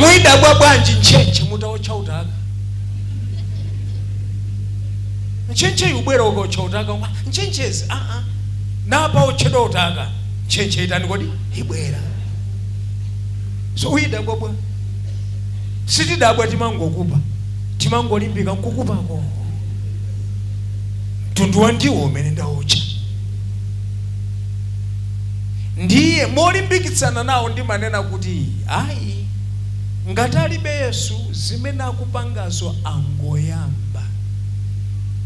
muyidabwa bwanji ntchentche mutaotcha utaka ntchentche ikabwera ukaotcha utaka ntchentchezi aa napa aotcha utaka ntchentche itani kodi ibwera so uyidabwa bwanji sitidabwa timangokupa timangolimbika nkukupako mtundu wa ndiwo umene ndaotcha Ndiye molimbikitsana nawo ndimanena kuti, Ayi, ngati alibe Yesu, zimene akupangazo angoyamba.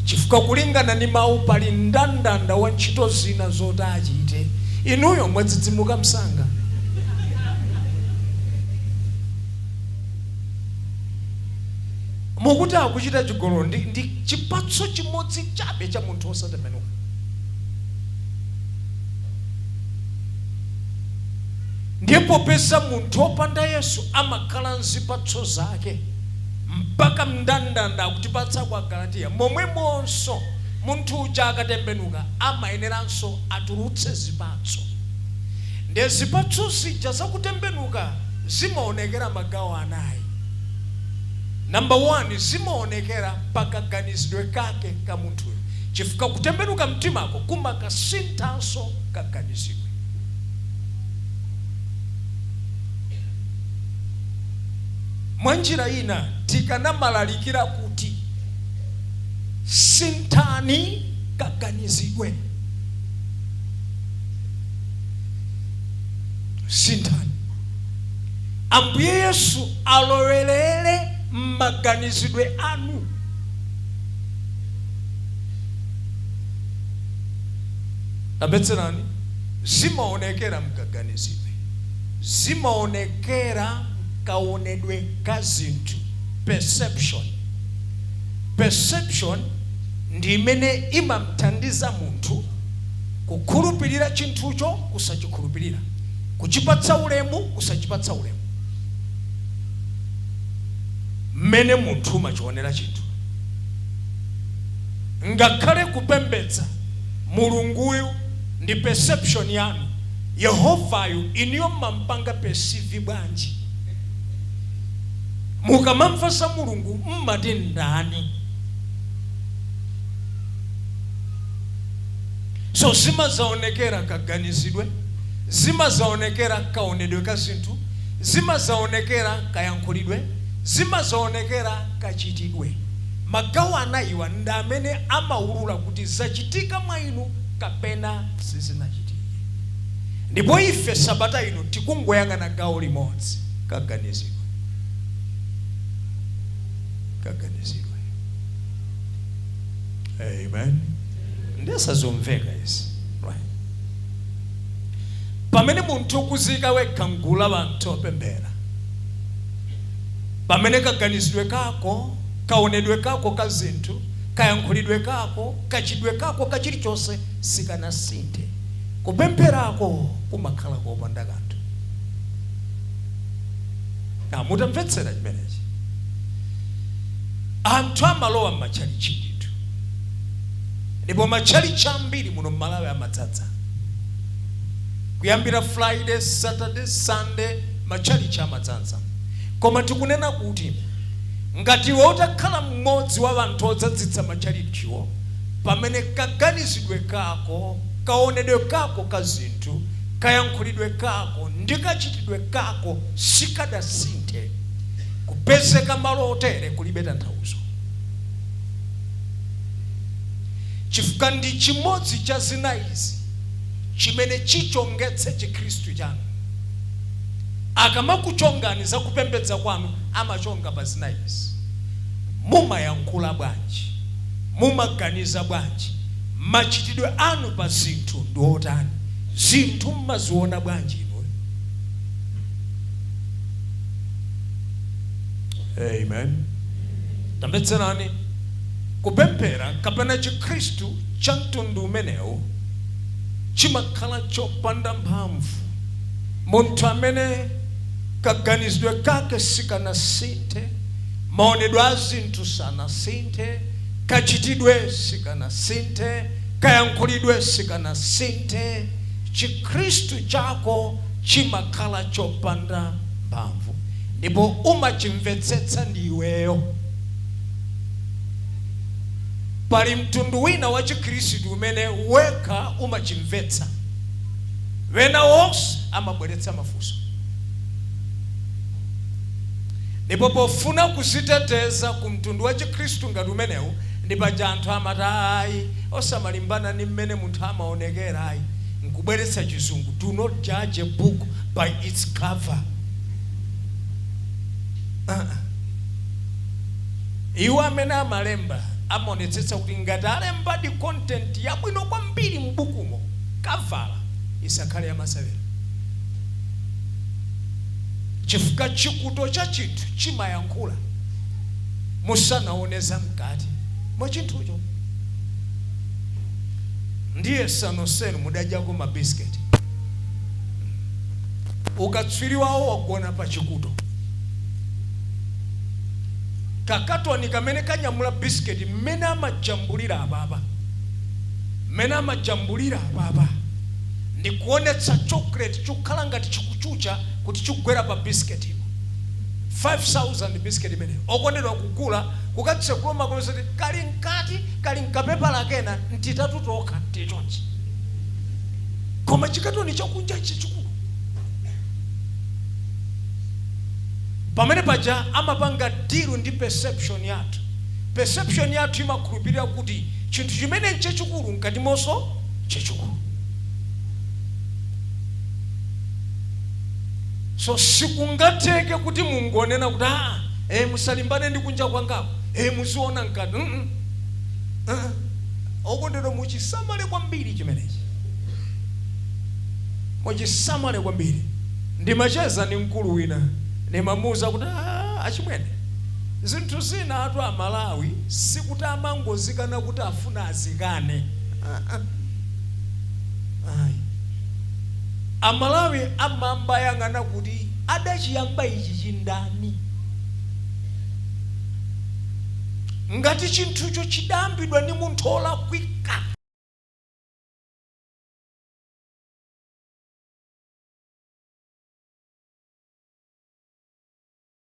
Chifukwa kulingana ndi mawu pali mndandanda wa ntchito zina zoti achite. Inuyo mwadzidzimuka msanga. Mukuti akuchita chigololo ndi chipatso chimodzi chabe cha munthu wosatembenuka. ndiye popeza munthu opanda yesu amakhala ndi zipatso zake mpaka mndandanda akutipatsa kwa agalatiya momwemonso munthu uja akatembenuka amayeneranso atulutse zipatso ndiye zipatso zija zakutembenuka zimaonekera magawo anayi namba 1 zimaonekera pakaganizidwe kake ka munthuyo chifukwa kutembenuka mtimako kumakasinthaso kaganizidwe. Mwanjira ina tikanamalalikira kuti, Sinthani kaganizidwe. Sinthani. Ambuye Yesu alowerere m'maganizidwe anu. Tamvetserani, zimaonekera mkaganizidwe, zimaonekera mkawonedwe ka zinthu, perception. Perception ndi imene imamthandiza munthu kukhulupirira chinthucho, kusachikhulupirira, kuchipatsa ulemu, kusachipatsa ulemu, mmene munthu umachionera chinthu. Ngakhale kupembedza mulunguyu ndi perception yanu, Yehovayu inuyo mmampanga perceive bwanji? Mukamamva za Mulungu mmati ndani? So zimadzaonekera kaganizidwe, zimadzaonekera kaonedwe ka zinthu, zimadzaonekera kayankhulidwe, zimadzaonekera. kachitidwe. Magawo anayiwa ndi amene amawulula kuti zachitika mwa inu kapena sizinachitike. Ndipo ife sabata ino tikungoyang'ana gawo limodzi, kaganizidwe. Kaganizidwe. Amen. Ndiye sazomveka izi. Right. Pamene munthu ukudziika wekha mgulu la anthu opemphera Pamene kaganizidwe kako, kaonedwe kako ka zinthu, kayankhulidwe kako, kachitidwe kako ka chilichonse sikanasinthe, kupempherako kumakhala kopanda kanthu. Now, mutamvetsera chimenechi, anthu amalowa m'matchalitchi ndithu, ndipo matchalitchi ambiri muno m'Malawi amadzadza kuyambira Friday, Saturday, Sunday, matchalitchi amadzadza. Koma tikunena kuti, ngati iwe utakhala mmodzi wa anthu odzadzitsa matchalitchiwo, pamene kaganizidwe kako, kawonedwe kako ka zinthu, kayankhulidwe kako, ndi kachitidwe kako sikadasinthe, kupezeka malo otere kulibe tanthauzo, chifukwa ndi chimodzi cha zinayizi chimene chichongetse Chikhristu chanu. Akamakuchongani za kupembedza kwanu amachonga pa zinayizi, Mumayankhula bwanji? Mumaganiza bwanji? Machitidwe anu pa zinthu ndi otani? Zinthu mumaziona bwanji inuyo? Amen. Tamvetserani, Kupemphera kapena chikhristu cha mtundu umenewu chimakhala chopanda mphamvu. Munthu amene kaganizidwe kake sikanasinthe, maonedwe a zinthu sanasinthe, kachitidwe sikanasinthe, kayankhulidwe sikanasinthe, Chikhristu chako chimakhala chopanda mphamvu ndipo umachimvetsetsa ndi iweyo. Pali mtundu wina wa Chikhristu umene wekha umachimvetsa. Ena onse amabweretsa mafunso ndipo pofuna kudziteteza ku mtundu wa Chikhristu ngati umenewu ndi paja anthu amati ayi osamalimbana ndi mmene munthu amaonekera ayi nkubweretsa chizungu, do not judge a book by its cover uh-uh. Iwo amene amalemba amaonetsetsa kuti ngati alembadi content yabwino kwambiri m'bukumo kavala isakhale yamasewera chifukwa chikuto cha chinthu chimayankhula musanaone zamkati mwa chinthucho ndiye nonsenu mudadyako mabisiketi ukatswiri wawo wagona pa chikuto kakatoni kamene kanyamula bisiketi mmene amajambulira apapa mmene amajambulira apapa ndikuonetsa chocolate chikukhala ngati chikuchucha kuti chikugwera pa bisiketipo. 5000 bisiketi imeneyo okondedwa kugula kukatsekula umakapeza kuti kali mkati kali mkapepala kena ntitatu tokha tili chonchi koma chikatoni chakunja chachikulu pamene paja amapanga deal ndi perception yathu perception yathu imakhulupirira kuti chinthu chimene n'chachikulu m'katimonso chachikulu. So sikungatheke kuti mungonena kuti aa eh, musalimbane ndi kunja kwangaku eh, muziona mkati mm -mm. Uh -uh. Okondedwa, muchisamale kwambiri chimenechi, muchisamale kwambiri. Ndimacheza ndi mkulu wina, ndimamuuza kuti achimwene Zinthu zinatu a Malawi sikuti amangozikana kuti afuna azikane aa ayi. A Malawi amayamba ayang'ana kuti adachiyamba ichichi ndani? Ngati chinthucho chidayambidwa ndi munthu olakwika,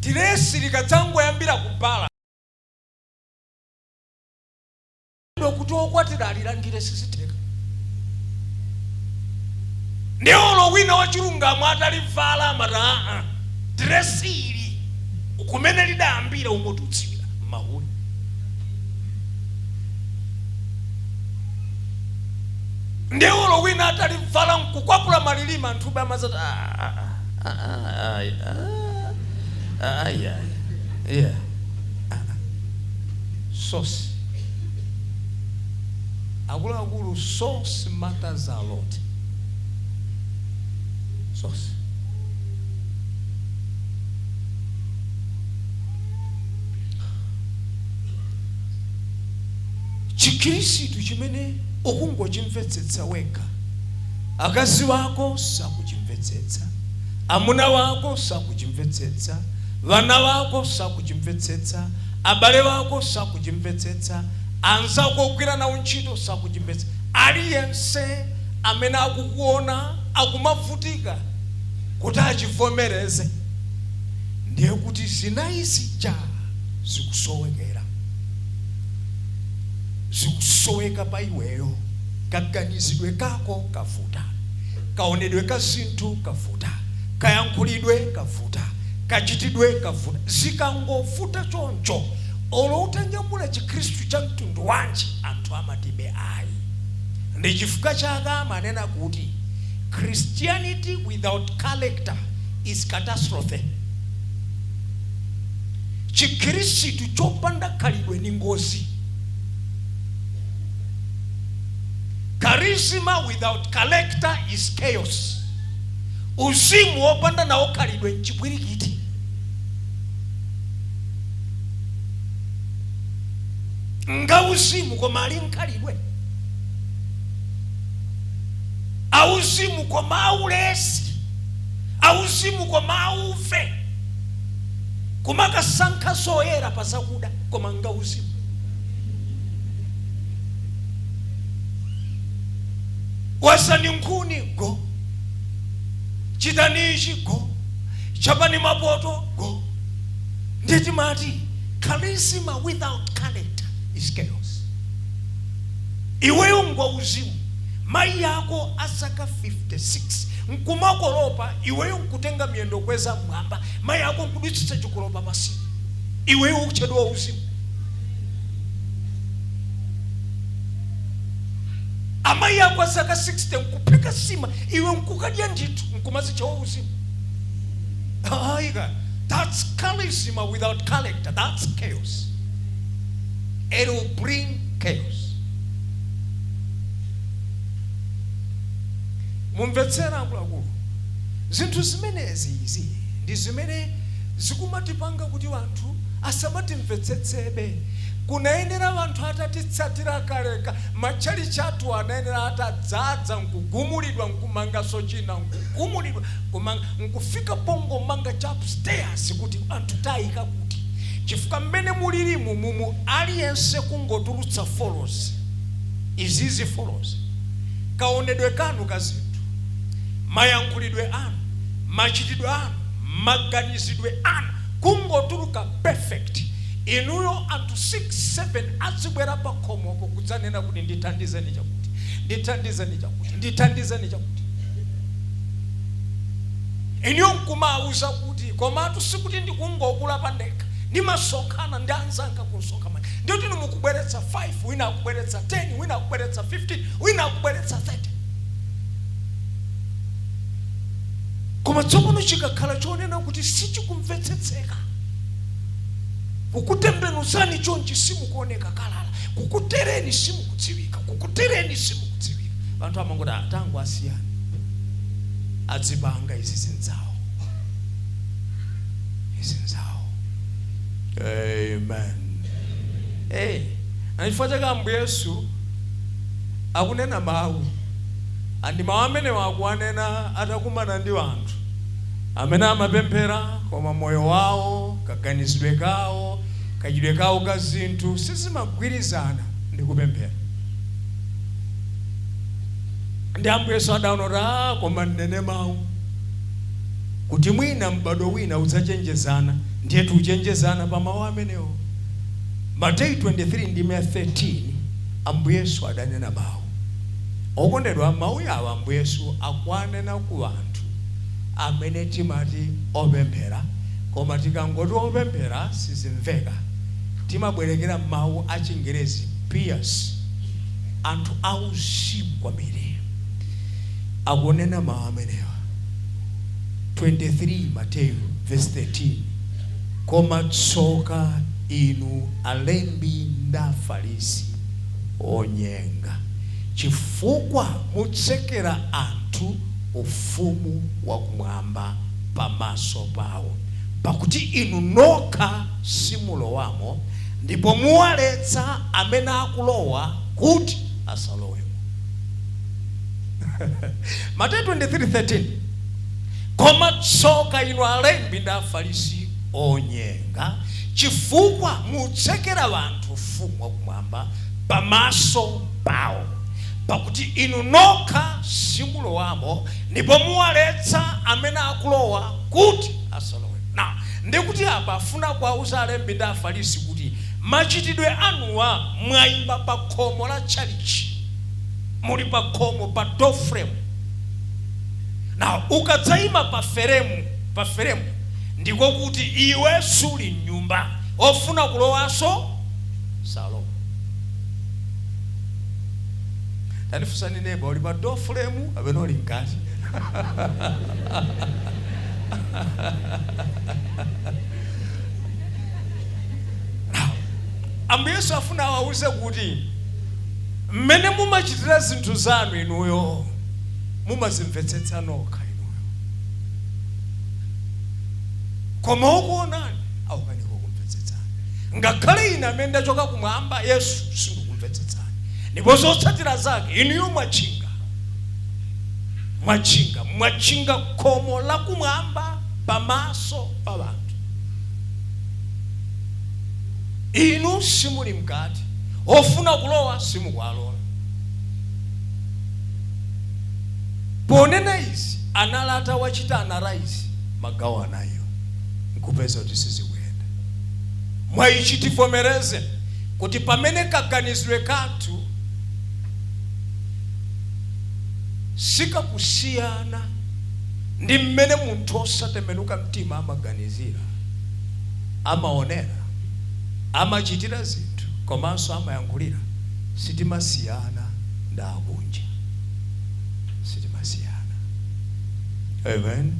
diresi likadzangoyambira ku bala kuti okwatira alilandire sizitheka ndi olo wina wachilungamo atalivala amati aa diresi ili kumene lidayambira umotiutsira mahule ndiye olo wina atalivala nkukwapula malilima anthu ube amazati "Ah, ah, ah, ah, ah, ayi, ah, ah, ayi, ayi, yeah, ah, ah." sosi akuluakulu source matters a lot source Chikhirisitu chimene ukungochimvetsetsa wekha. Akazi wako sakuchimvetsetsa. Amuna wako sakuchimvetsetsa. Vana vako sakuchimvetsetsa. Abale vako sakuchimvetsetsa. Anzako ogwira nawo ntchito sakuchimvetsetsa. Aliyense amene akukuona akumavutika kuti achivomereze, ndiye kuti zinayi zija zikusowekera. zikusoweka pa iweyo kaganizidwe kako kavuta kaonedwe ka zinthu kavuta kayankhulidwe kavuta kachitidwe kavuta zikangovuta choncho olo utanyamula chikhristu cha mtundu wanji anthu amatibe ayi ndi chifukwa chake amanena kuti christianity without character is catastrophe Chikhirisitu chopanda khalidwe ni ngozi. Charisma without character is chaos. Uzimu wopanda nawo khalidwe nchipwirikiti. Ngauzimu koma alibe khalidwe. Auzimu koma aulesi. Auzimu koma auve. kumakasankha zoyera pa zakuda koma ngauzimu wazani nkhuni ngo chitani ichi ngo chapani mapoto ngo ndi timati charisma without character is chaos iweyo ngwauzimu mayi ako azaka 56 nkumakolopa iweyo nkutenga miyendo kweza mmwamba mayi ako nkudutsitsa chikolopa pansi iweyo ukutchedwa uzimu amayi ako azaka 60 nkuphika nsima iwe nkukadya ndithu nkumazitcha wauzimu aika that's charisma without character that's chaos it will bring chaos Mumvetsere akuluakulu, zinthu zimenezi izi ndi zimene zikumatipanga kuti anthu asamatimvetsetsebe. Kunayenera anthu atatitsatira kaleka, matchalitchi athuwa anayenera atadzadza nkugumulidwa nkumanganso china, nkugumulidwa nkumanga, nkufika pongomanga cha upstairs kuti anthu taika kuti chifukwa mmene mulirimu mumu aliyense kungotulutsa values izizi values. kaonedwe kanu ka zinthu, mayankhulidwe anu, machitidwe anu, maganizidwe anu kungotuluka perfect inuyo anthu 6 7 adzibwera pa khomopo kudzanena kuti ndithandizeni chakuti ndithandizeni chakuti ndithandizeni chakuti inuyo nkumawuza kuti komatu sikuti ndikungokula pandekha ndimasonkhana ndi anzanga kumsonkhano ndiye inu mukubweretsa 5 wina akubweretsa 10 wina akubweretsa 15 wina akubweretsa 30 koma tsopano chikakhala chonena kuti sichikumvetsetseka ukutembenuzani chonchi simukuoneka kalala kukutereni simukudziwika kukutereni simukudziwika anthu amangoti atango asiyani adzipanga izi zinzawo izi nzawo amen hey. Ndi chifukwa chake Ambuye Yesu akunena mawu a. Ndi mawu amenewa akuwanena atakumana ndi anthu amene amapemphera koma moyo wawo, kaganizidwe kawo, kachitidwe kawo ka zinthu sizimagwirizana ndi kupemphera. Ndiye Ambuye Yesu adaona kuti, a, koma ndinene mawu kuti mwina m'badwo wina udzachenjezana. Ndiye tichenjezana pa mawu amenewo. Mateyu 23 ndime ya 13 Ambuye Yesu adanena mau. Okondedwa mau awa Ambuye Yesu akuwanena ku anthu amene timati opemphera koma tikangoti opemphera sizimveka timabwerekera mau a chingerezi pious anthu a uzimu kwambiri akunena mau amenewa 23 Mateyu vesi 13. Koma tsoka inu alembi ndi Afarisi, onyenga! Chifukwa mutsekera anthu ufumu wa Kumwamba pamaso pawo, pakuti inu nokha simulowamo, ndipo muwaletsa amene akulowa kuti asalowemo. Mateyu 23:13. Koma tsoka inu alembi ndi Afarisi, onyenga! Chifukwa mutsekera anthu Ufumu wa Kumwamba pamaso pawo. Pakuti inu nokha simulowamo, ndipo muwaletsa amene akulowa kuti asalowemo. Now, ndiye kuti apa afuna kuwauza alembi ndi Afarisi kuti machitidwe anuwa mwaima pa khomo la tchalitchi. Muli pa khomo pa doorframe. Now, ukadzaima pa feremu, pa feremu, ndiko kuti iwe suli mnyumba, ofuna kulowanso salowa. Tamufunsani neba, uli pa door frame kapena uli mkati? Now, Ambuye Yesu afuna awauze kuti mmene mumachitira zinthu zanu inuyo mumazimvetsetsa nokha inuyo koma okuonani akukanika kukumvetsetsani ngakhale ine amene ndachoka kumwamba yesu sindikukumvetsetsani ndipo zotsatira zake inuyo mwatchinga mwatchinga mwatchinga khomo la kumwamba pamaso pa anthu inu simuli mkati ofuna kulowa simukuwalola Ponena izi anali atawachita analyze magawo anayiwa n'kupeza kuti sizikuyenda. Mwaichi tivomereze kuti pamene kaganizidwe kathu sikakusiyana ndi mmene munthu osatembenuka mtima amaganizira, amaonera, amachitira zinthu komanso amayankhulira, sitimasiyana. ndi akunja. Sitimasiyana. Amen.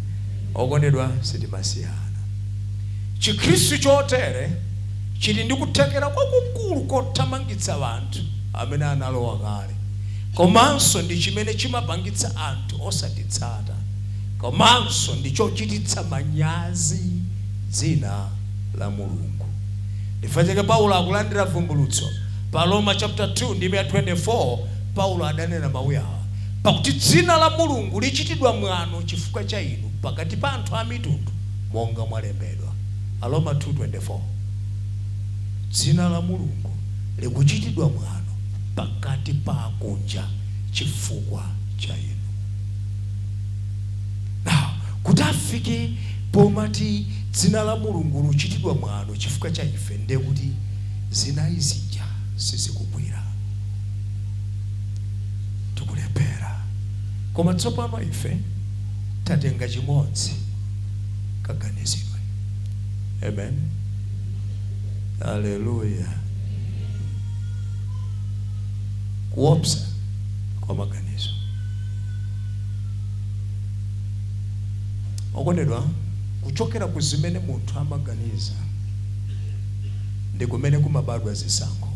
Okondedwa, sitimasiyana. Chikhristu chotere chili ndi kuthekera kwakukulu kothamangitsa anthu amene analowa kale komanso ndi chimene chimapangitsa anthu osatitsata komanso ndi chochititsa manyazi dzina la Mulungu. Chifukwa chake Paulo akulandira vumbulutso Pa Aroma chaputala 2 ndime ya 24, Paulo adanena mau awa, Pakuti dzina la Mulungu lichitidwa mwano chifukwa cha inu pakati pa anthu amitundu, monga mwalembedwa. Aroma 2:24. Dzina la Mulungu likuchitidwa mwano pakati pa akunja chifukwa cha inu. Now, kuti afike pomati dzina la Mulungu lichitidwa mwano chifukwa cha ife, ndiye kuti. zinayi zija sizikugwira. Tikulephera. Koma tsopano apa ife tatenga chimodzi, kaganizidwe. Amen. Haleluya. Kuopsa kwa maganizo. Okondedwa, kuchokera ku zimene munthu amaganiza ndi kumene kumabadwa zisankho,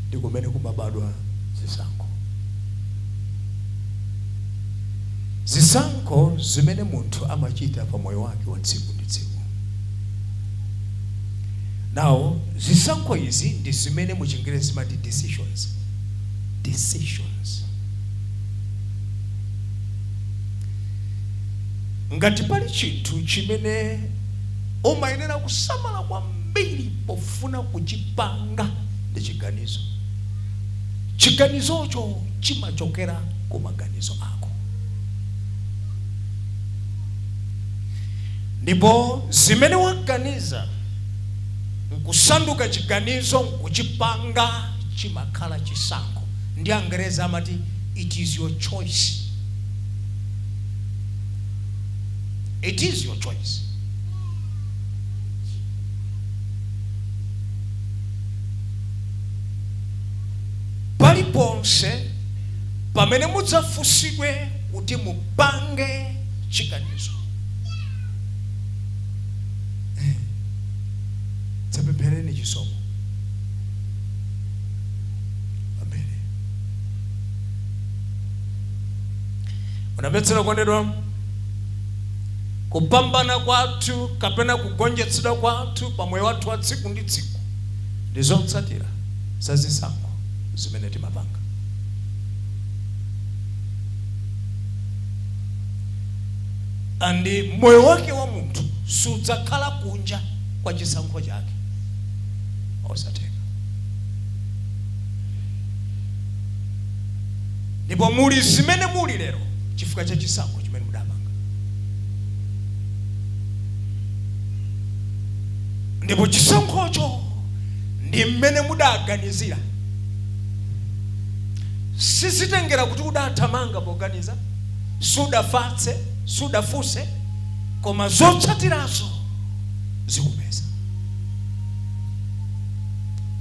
ndi kumene kumabadwa zisankho. Zisankho zimene munthu amachita pa moyo wake wa tsiku ndi tsiku. Now, zisankho izi ndi zimene mu Chingerezi timati decisions. Decisions. Ngati pali chinthu chimene umayenera kusamala kwambiri pofuna kuchipanga ndi chiganizo. Chiganizocho chimachokera ku maganizo ako. Ndipo zimene waganiza n'kusanduka chiganizo n'kuchipanga chimakhala chisankho. Ndi Angerezi amati, It is your choice. It is your choice. paliponse pamene mudzafunsidwe kuti mupange chiganizo Eh, dzapemphereni chisomo Omvetsera okondedwa, kupambana kwathu kapena kugonjetsedwa kwathu pa moyo wathu wa tsiku ndi tsiku ndi zotsatira za zisankho zimene timapanga. And moyo wake wa munthu sudzakhala kunja kwa chisankho chake osatheka. Ndipo muli zimene muli lero chifukwa cha chisankho chimene mudapanga. Ndipo chisankhocho ndi mmene mudaganizira. Sizitengera kuti udathamanga poganiza, sudafatse, sudafunse, koma zotsatirazo zikupeza.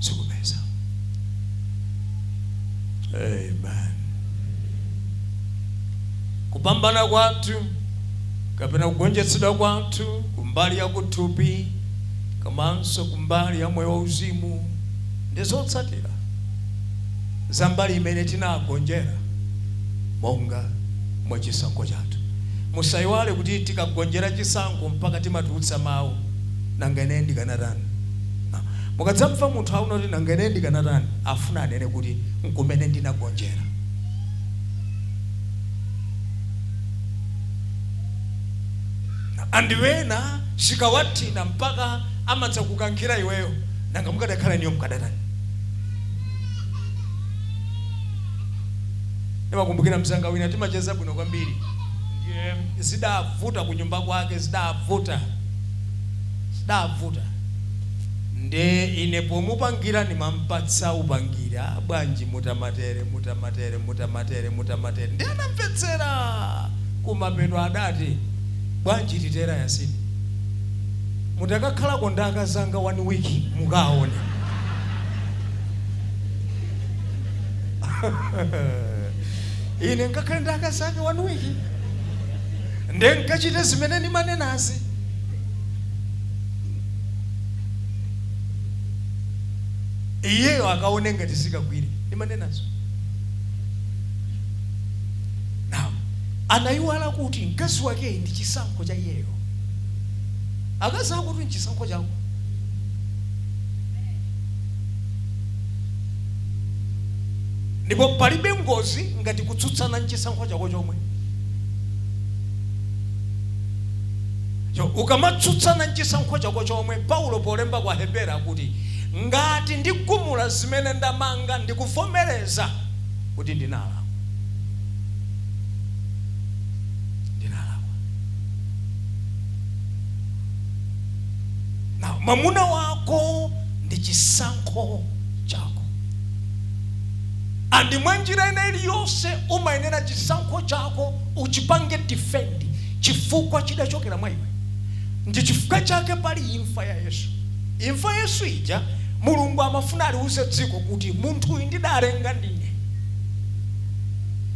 Zikupeza. amen kupambana kwathu kapena kugonjetsedwa kwathu kumbali ya kuthupi komanso kumbali ya moyo wauzimu ndi zotsatira za mbali imene tinagonjera monga mwa chisankho chathu musayiwale kuti tikagonjera chisankho mpaka timatulutsa mawu nanga ine ndikanatani Mukadzamva munthu akunena kuti, Nanga ine ndikanatani? afuna anene kuti, N'kumene ndinagonjera. And ena zikawathina mpaka amadzakukankhira iweyo. Nanga mukadakhala inuyo mukadatani? Ndimakumbukira mnzanga wina timacheza bwino kwambiri. Ndiye zidavuta kunyumba kwake, zidavuta. zidavuta nde ine pomupangira ndimampatsa upangiri a bwanji mutamatere mutamatere mutamatere mutamatere nde anamvetsera kumapeto ndidati bwanji titere mutakakhalako ndi akazanga one week mukawaone ine nkakhale ndi akazanu one week nde nkachite zimene ndimanenazi iyeyo akaone ngati zikagwire ndimanenazo now anayiwala kuti mkazi wakeyi ndi chisankho cha iyeyo akazi akowo nchisankho chako ndipo palibe ngozi ngati kutsutsana nchisankho chako chomwe Cho ukamatsutsana nchisankho chako chomwe, Paulo polemba kwa Aheberi akuti, Ngati ndigumula zimene ndamanga ndi kuvomereza kuti ndinalakwa. Ndinalakwa. Now, mamuna wako ndi chisankho chako. And mwanjira ina iliyonse umayenera chisankho chako uchipange defend chifukwa chidachokera mwa iwe. Ndi chifukwa chake pali imfa ya Yesu. Imfa ya Yesu ija, Mulungu amafuna aliuze dziko kuti munthuyu ndidalenga ndine,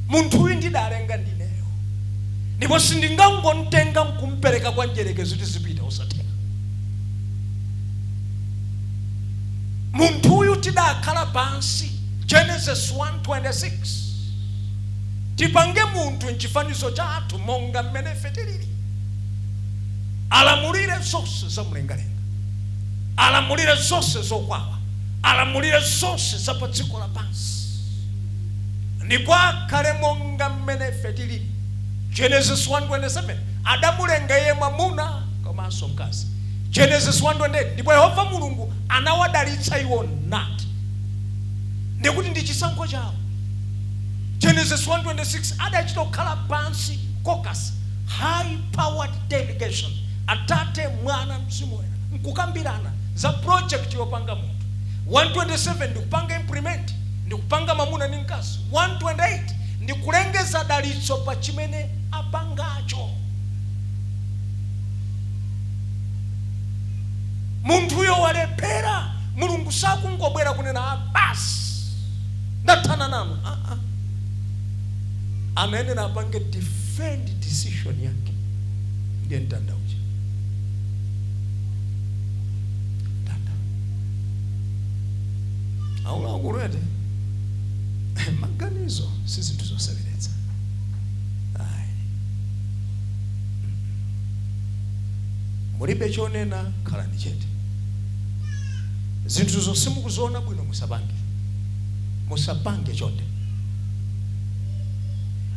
munthuyu ndidalenga ndineyo, ndipo sindingangomtenga nkumpereka kwa mdyerekezi kuti azipita kwa Satana. Munthuyu tidakhala pansi, Genesis 1:26 Tipange munthu m'chifanizo chathu, monga mmene ife tilili. Alamulire zonse za mlengalenga, alamulire zonse zokwawa, alamulire zonse za pa dziko lapansi, ndipo akhale monga mmene ife tilili. Genesis 1:27 Adamulenga iye mwamuna komanso mkazi. Genesis 1:28 Ndipo Yehova Mulungu anawadalitsa iwo nati, ndikuti, Ndi chisankho chawo. Genesis 1:26 adachita kukhala pansi caucus high powered delegation atate mwana mzimu woyera nkukambirana za project yopanga munthu 127 ndikupanga implement ndikupanga mamuna ndi mkazi 128 ndikulengeza dalitso pa chimene apangacho munthuyo walephera mulungu sakungobwera kunena aa basi ndathana nanu ah -ah. anayenera apange defend decision yake ndiye mtanda uja mtanda wa ula akulete manganizo si zinthu zoseweretsa ayi mulibe chonena khalani chete Zinthuzo simukuziona bwino musapange. Musapange chonde.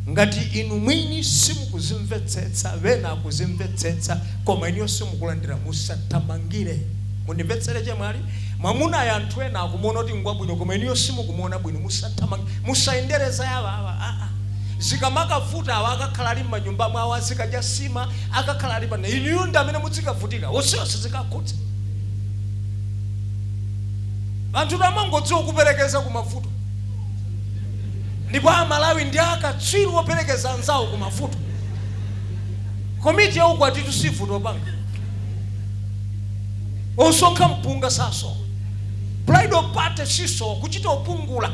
Ngati inu mwini simukuzimvetsetsa wena akuzimvetsetsa koma inuyo simukulandira musathamangire. Mundimvetsetse chemwali. Mwamunayo anthu ena akumuona kuti ngwabwino koma inuyo simukumuona bwino musathamangire. Musayendere za awa awa aa. Zikamakavuta awa akakhala ali mmanyumba mwawo azikadya sima akakhala alipa inuyo ndi amene mudzikavutika. Onsewo sizikakhudza. Anthutu amangodziwa kuperekeza ku mavuto, ndipo a Malawi ndi a katswiri operekeza anzawo ku mavuto. Komiti ya ukwatitu sivuta opanga, osonkha mpunga sasowa, bridal party sisowa, kuchita opungula,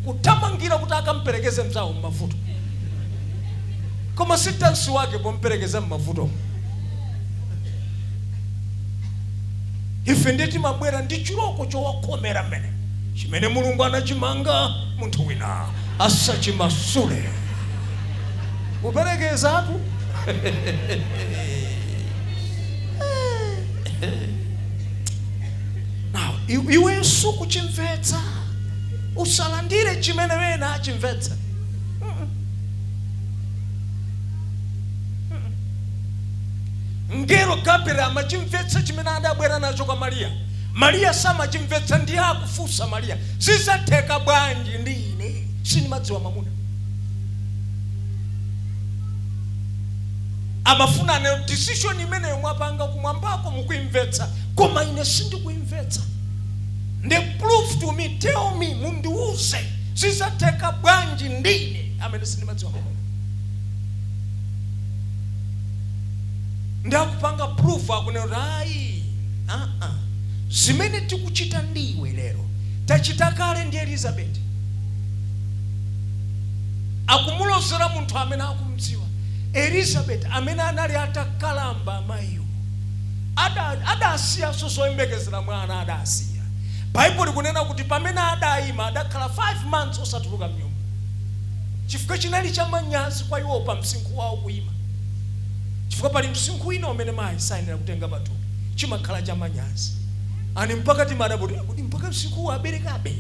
kuthamangira kuti akamperekeze mzawo m'mavuto. Koma si dansi wake pomperekeza m'mavutomo. ife ndiye timabwera ndi chiloko chokhomera mmene chimene mulungu anachimanga munthu wina asachimasule kuperekezatu Now, i- iwenso kuchimvetsa usalandire chimene wena achimvetsa Mngelo Gabriel amachimvetsa chimene adabwera nacho kwa Maria. Maria samachimvetsa ndiye akufunsa Maria, zizatheka bwanji poti ine sindimadziwa mwamuna? Amafuna aneyo decision imeneyo mwapanga kumwambako mukuimvetsa koma ine sindikuimvetsa. Nde prove to me, tell me, mundiuze zizatheka bwanji ndi ine amene sindimadziwa mwamuna? ndi akupanga proof akunena kuti ayi aa zimene tikuchita ndi iwe lero tachita kale ndi elizabeti akumulozera munthu amene akumdziwa elizabeti amene anali atakalamba amayiwo Ada- adasiyanso zoyembekezera mwana adasiya baibulo likunena kuti pamene adayima adakhala 5 months osatuluka mnyumba chifukwa chinali chamanyazi kwa iwo pa msinkhu wawo kuyima chifukwa pali msinkhu wina umene mayi sayenera kutenga pathupi chimakhala cha manyazi ani mpaka timanena kuti kuti mpaka msinkhuwu aberekabe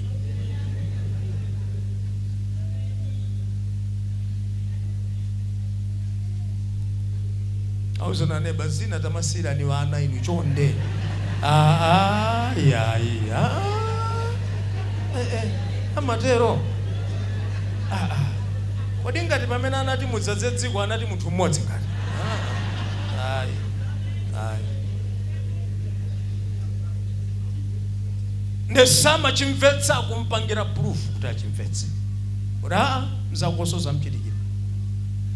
auzana neba zina tamasiyirani ana inu chonde Ah, ah, yayi ah. Eh, eh, amatero Ah, ah. Kodi ngati pamene anati mudzadze dziko anati munthu mmodzi ngati? Ayi. Ayi. Nde samachimvetsa akumpangira proof kuti achimvetse. Kuti aa mzakonso zamchitikira.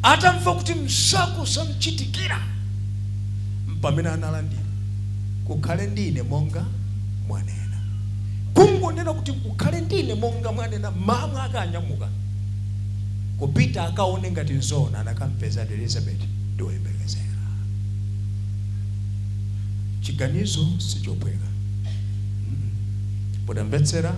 Atamva kuti mzako zamchitikira m'pamene analandira kukhale ndi ine monga mwanena. Kungonena kuti kukhale ndi ine monga mwanena mawu ake anya ananyamuka kupita akaone ngati nzoona anakampezadi elizabeti ndi woyembekezera chiganizo si chophweka potamvetsera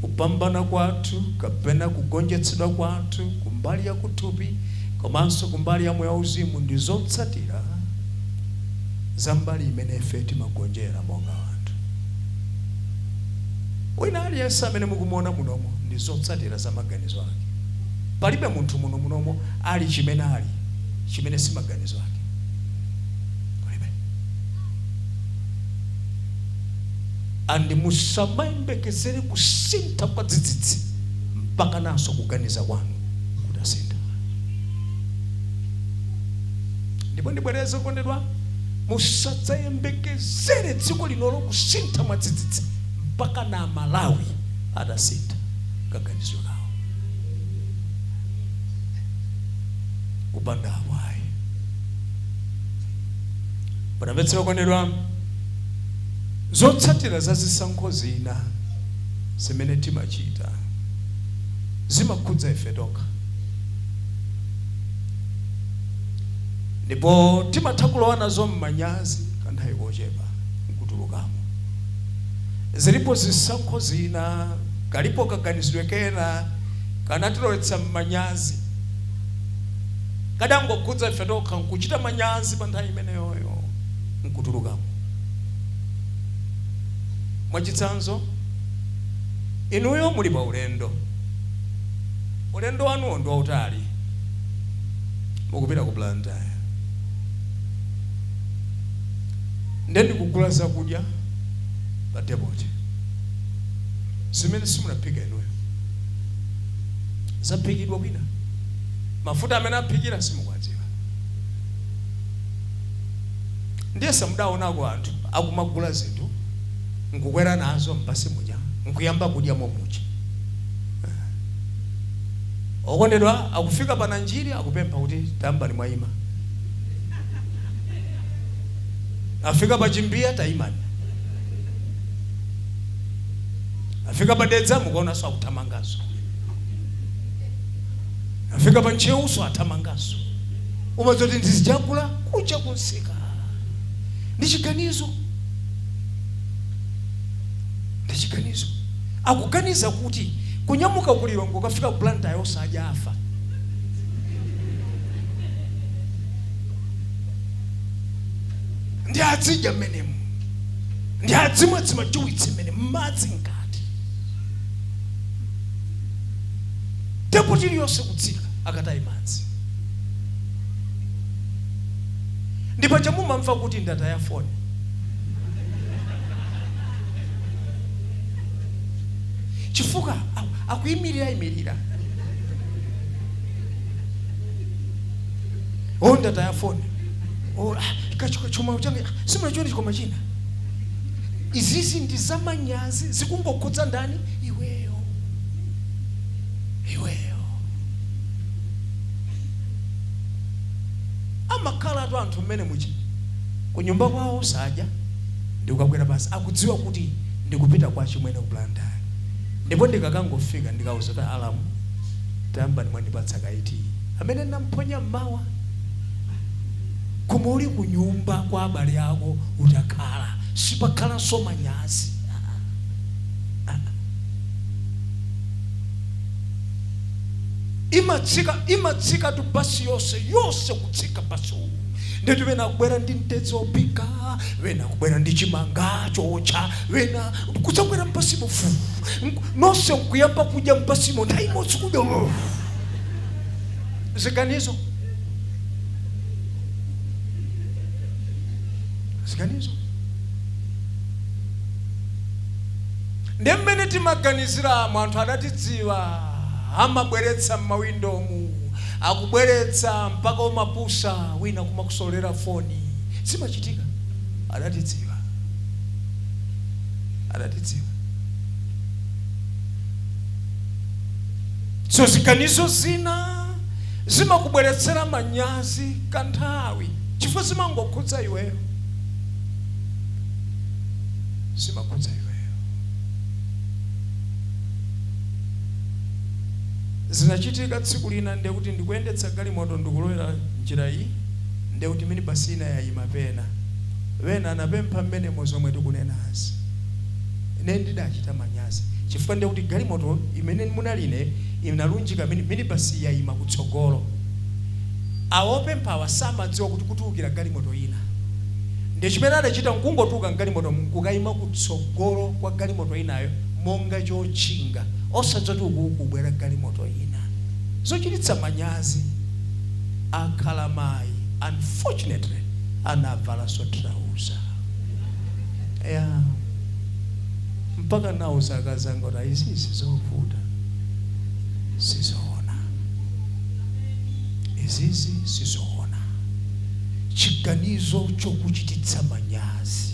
kupambana kwathu kapena kugonjetsedwa kwathu kumbali ya kuthupi komanso kumbali ya moyo wauzimu ndi zotsatira za mbali imene ife timagonjera monga anthu Wina aliyense amene mukumuona munomo ndi zotsatira za maganizo ake. Palibe munthu muno munomo ali chimene ali chimene si maganizo ake. Palibe. And musamayembekezere kusintha kwa dzidzidzi mpakananso kuganiza kwanu kutasintha. Ndipo ndibwereze okondedwa. Musadzayembekezere dziko linolo kusintha mwadzidzidzi mpakana Amalawi atasintha kaganizidwe kawo. Kupanda apo ayi. Mutamvetsera okondedwa? Zotsatira za zisankho zina zimene timachita zimakhudza ife tokha. Ndipo timatha kulowa nazo m'manyazi kanthawi kochepa n'kutulukamo. Zilipo zisankho zina, kalipo kaganizidwe kena kanatilowetsa m'manyazi. Kadangokhudza ife tokha n'kuchita manyazi panthawi imeneyoyo n'kutulukamo. Mwachitsanzo, inuyo muli paulendo. Ulendo wanuwo ndi wautali. mukupita ku blantyre nde ndikugula zakudya pa depoti zimene simunaphika inuyo zaphikidwa kwina mafuta amene aphikira simukwadziwa ndiye samudaonako anthu akumagula zinthu nkukwera nazo m'basi muja nkuyamba kudya momuja Okondedwa akufika pa Nanjiri akupempha kuti tayambani mwaima. Afika pa Chimbiya taimani. Afika pa Dedza mukuwaonanso akuthamanganso. Afika pa Ntcheuso athamanganso. Umadziwa kuti ndi zija agula kuja kunsika. Ndi chiganizo. Ndi chiganizo. Akuganiza kuti kunyamuka ku Lilongwe kukafika ku Blantyre osadya afa. Nde adzidya mmenemo. Nde adzimwa dzimajuwitsi mmene madzi mkati. Depoti iliyonse kutsika akataye madzi. Ndipo paja mumamva kuti ndataya foni. chifukwa a- akuyimirira imirira o ndataya foni Oh, ah, kachu- chuma change ah, simunachione chikoma china izizi ndi zamanyazi zikungokhudza ndani iweyo iweyo amakhalatu anthu mmene muja kunyumba kwawo sadya ndikagwera pansi akudziwa kuti ndikupita kwa achimwene ku Blantyre ndipo ndikakangofika ndikawauza kuti alamu tayambani mwandipatsa kaye tiyi amene ndinamuphonya m'mawa koma uli kunyumba kwa abale ako utakhala sipakhalanso manyazi. imatsika imatsikatu basi yonse yonse kutsika basi uwu ndetu ena kubwera ndi mtedzi wophika ena kubwera ndi chimanga chootcha ena kudzabwera m'basimo fu onse nkuyamba kudya m'basimo nthawi imodzi kudya uf. ziganizo ziganizo ndi mmene timaganiziramo anthu adatidziwa amabweretsa m'mawindomu akubweretsa mpaka kumapusa wina kumakusololera foni zimachitika adatidziwa adatidziwa so ziganizo zina zimakubweretsera manyazi kwanthawi chifukwa zimangokhudza iweyo zimakhudza iweyo zinachitika tsiku lina ndekuti ndikuyendetsa galimoto ndikulowera njira iyi ndekuti minibus ina yayima pena wena anapempha mmenemo zomwe tikunenazi ine ndidachita manyazi chifukwa ndekuti galimoto imene munali ine inalunjika mini- minibus yayima kutsogolo awo opemphawa samadziwa kuti kutulukira galimoto ina nde chimene adachita nkungotuluka mgalimoto mkukayima kutsogolo kwa galimoto inayo monga chotchinga osadziwa zoti uku kukubwera galimoto ina. Zochititsa manyazi akhala mayi unfortunately anavalanso trouser. Yeah. Mpaka nauza akazi anga kuti izi nzovuta. Sizoona. Izizi sizoona. Chiganizo chokuchititsa manyazi.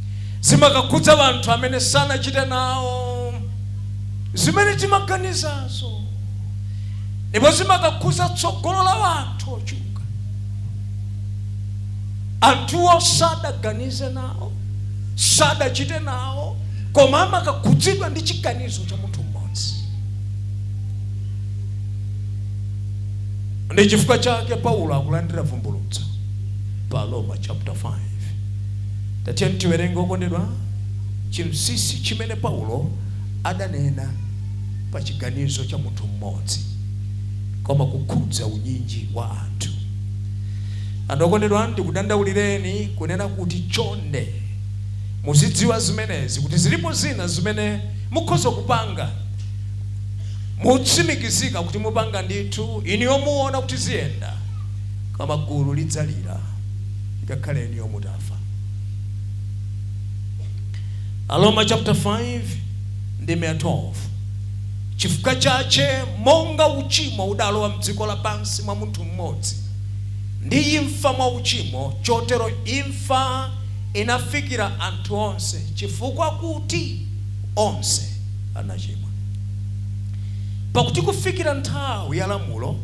zimakakhudza wanthu amene sanachite nawo zimene timaganizazo ndipo zimakakhudza tsogolo la wanthu ochuluka anthuwo sadaganize nawo sadachite nawo koma amakakhudzidwa ndi chiganizo cha munthu mmodzi ndi chifukwa chake paulo akulandira vumbulutso pa aroma chapter 5 Tatiyeni tiwerenge, okondedwa, chinsinsi chimene Paulo adanena pa chiganizo cha munthu m'modzi, koma kukhudza unyinji wa anthu. Ndiye okondedwa, ndikudandaulireni kunena kuti chonde muzidziwa zimenezi, kuti zilipo zina zimene mukhoza kupanga motsimikizika kuti mupanga ndithu, inuyo muona kuti ziyenda, koma gulu lidzalira. ngakhale inuyo mutafa. Aroma chapter 5 ndime ya 12 chifukwa chache monga uchimo udalowa mdziko lapansi mwa munthu mmodzi ndi imfa mwa uchimo chotero imfa inafikira anthu onse chifukwa kuti onse anachimwa pakuti kufikira nthawi ya lamulo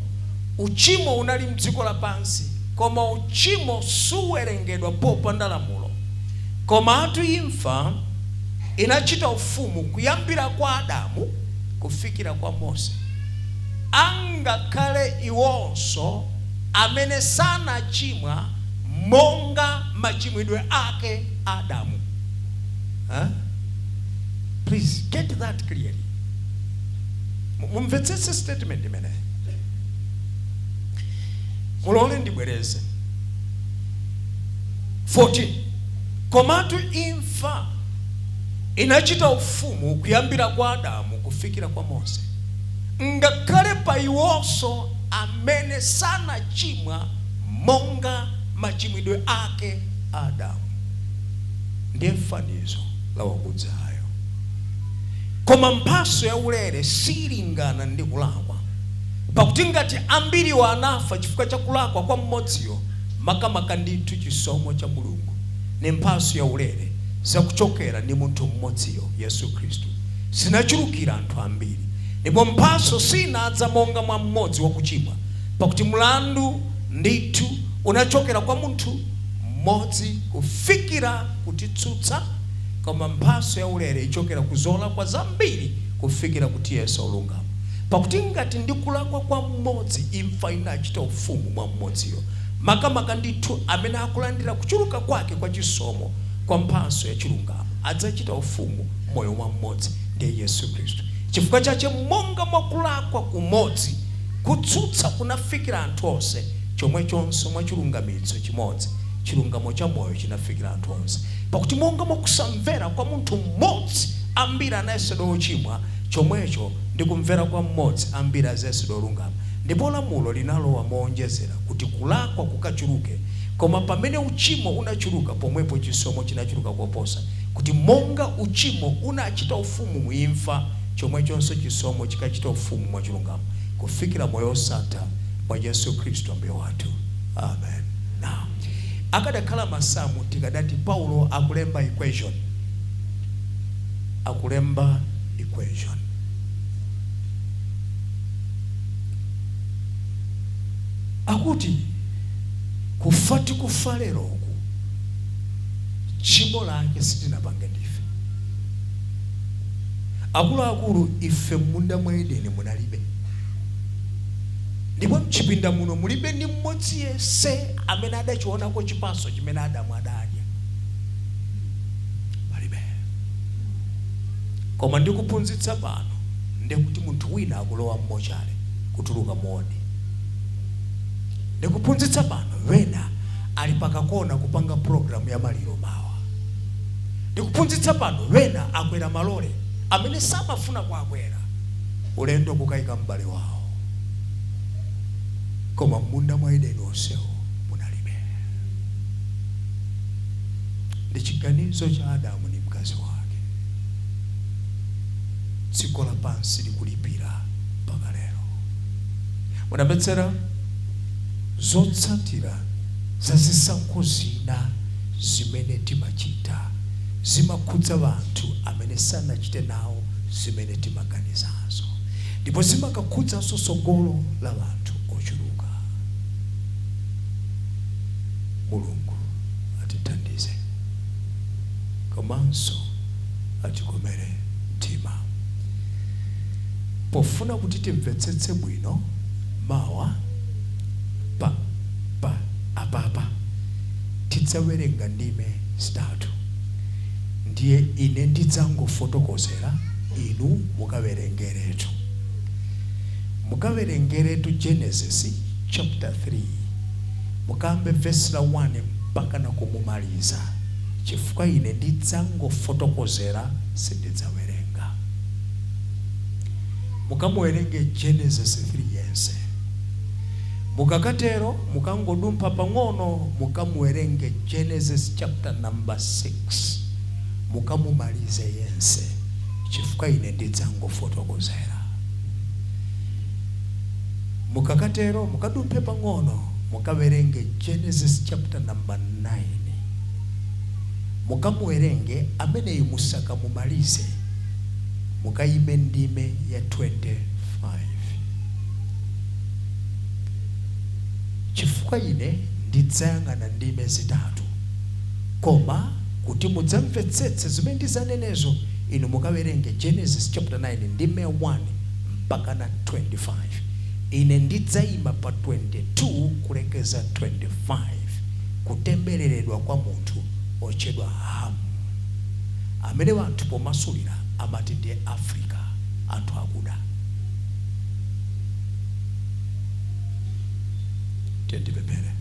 uchimo unali mdziko lapansi Koma uchimo suwerengedwa popanda lamulo. Komatu imfa inachita ufumu kuyambira kwa Adamu kufikira kwa Mose. Angakhale iwonso amene sanachimwa monga machimwidwe ake Adamu huh? Please get that clearly. Mumvetsetse statement imeneyi. Mulole ndibwereze 14 Komatu imfa inachita ufumu kuyambira kwa Adamu kufikira kwa Mose, ngakhale pa iwonso amene sanachimwa monga machimwidwe ake a Adamu, ndiye fanizo la wakudzayo. Koma mphatso yaulere siilingana ndi kulakwa. Pakuti ngati ambiriwo anafa chifukwa cha kulakwa kwa mmodziyo, makamaka ndithu chisomo cha Mulungu, ni mphatso yaulere zakuchokela ni munthu mmodziyo, Yesu Kristu, zinachulukila anthu ambiri. Ndipo mphatso siinadza monga mwa mmodzi wakuchimwa, pakuti mlandu ndithu unachokela kwa munthu mmodzi kufikira kutitsutsa, koma mphatso yaulere ichokela ku zolakwa zambiri kufikira kutiyesa olungama. Pakuti ngati ndi kulakwa kwa mmodzi imfa inachita ufumu mwa mmodziyo, makamaka ndithu amene akulandira kuchuluka kwake kwa chisomo kwa mphatso ya chilungamo adzachita ufumu m'moyo mwa mmodzi, ndiye Yesu Khristu. Chifukwa chache monga mwa kulakwa kumodzi kutsutsa kunafikira anthu onse, chomwechonso mwa chilungamitso chimodzi chilungamo cha moyo chinafikira anthu onse. Pakuti monga mwa kusamvera kwa munthu mmodzi ambiri anayesedwa ochimwa, chomwecho ndi kumvera kwa mmodzi ambiri azayesedwa olungama, ndipo lamulo linalowa mowonjezera kuti kulakwa kukachuluke, koma pamene uchimo unachuluka, pomwepo chisomo chinachuluka koposa, kuti monga uchimo unachita ufumu mu imfa, chomwechonso chisomo chikachite ufumu mwa chilungamo kufikira moyo wosatha mwa Yesu Khristu Ambuye wathu. Amen. Now, akadakhala masamu tikadati Paulo akulemba equation. akulemba equation. Akuti kufa tikufa lero uku tchimo lake sitinapange ndife akuluakulu ife m'munda mwa edeni munalibe ndipo mchipinda muno mulibe ndi mmodzi yese amene adachionako chipaso chimene adamu adadya Koma ndikuphunzitsa pano nde kuti munthu wina akulowa m'mochale kutuluka mu wodi. Ndikuphunzitsa pano wena ali pakakona kupanga program ya maliro mawa. Ndikuphunzitsa pano wena akwera malole amene samafuna kuakwera ulendo wokaika m'bale wawo. Koma m'munda mwa Edeni onsewo munalibe. Ndi chiganizo cha Adamu ndi mkazi wake. Dziko lapansi likulipira mpaka lero. Munamvetsetsa zotsatira za zisankho zina zimene timachita zimakhudza anthu amene sanachite nawo zimene timaganizazo ndipo zimakakhudzanso tsogolo la anthu ochuluka. Mulungu atithandize komanso atikomere mtima. Pofuna kuti timvetsetse bwino mawa apapa tidzawerenga ndime zitatu ndiye ine ndidzangofotokozera inu mukawerengeretu. Mukawerengeretu Genesis chapter 3 Mukayambe vesi la 1 mpakana kumumaliza chifukwa ine ndidzangofotokozera sindidzawerenga. Mukamuwerenge Genesis 3 yense. Mukakatero mukangodumpha pang'ono mukamuwerenge Genesis chapter number 6 mukamumalize yense chifukwa ine ndidzangofotokozera. Mukakatero, mukadumphe pang'ono, mukawerenge Genesis chapter number 9. Mukamuwerenge ameneyi musakamumalize, mukayime ndime ya 25. Chifukwa ine ndidzayang'ana ndime zitatu, koma kuti mudzamvetsetse zimene ndidzanenezo, inu mukawerenge Genesis chapter 9 ndime ya 1 mpakana 25. Ine ndidzaima pa 22 kulekeza 25, kutembereredwa kwa munthu otchedwa Hamu amene anthu pomasulira amati ndi Afrika, anthu akuda. Tiyeni tipemphere.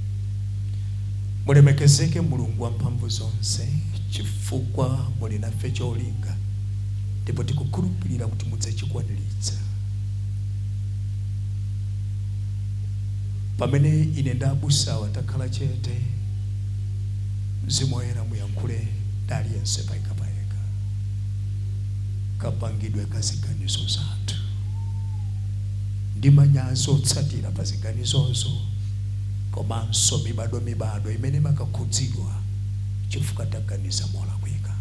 Mulemekezeke Mulungu wamphamvu zonse chifukwa muli nafe cholinga. ndipo tikukhulupirira kuti mudzachikwaniritsa. Pamene ine ndi abusawa takhala chete, Mzimu Woyera muyankhule ndi aliyense payekapayeka, kapangidwe ka ziganizo zathu ndi manyazi otsatira pa ziganizozo komanso mibadwomibadwo imene imakakhudzidwa chifukwa taganiza molakwika.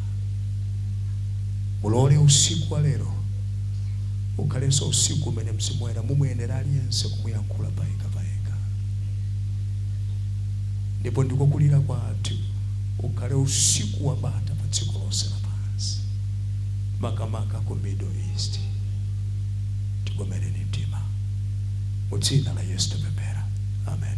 Mulole usiku wa lero ukhalenso usiku umene Mzimu Woyera mumuyendera aliyense kumuyankhula payekha payekha. Ndipo ndiko kulira kwathu, ukhale usiku wa bata pa dziko lonse lapansi, makamaka ku Middle East. Tikomereni mtima. Mu Dzina la Yesu tapemphera. Amen.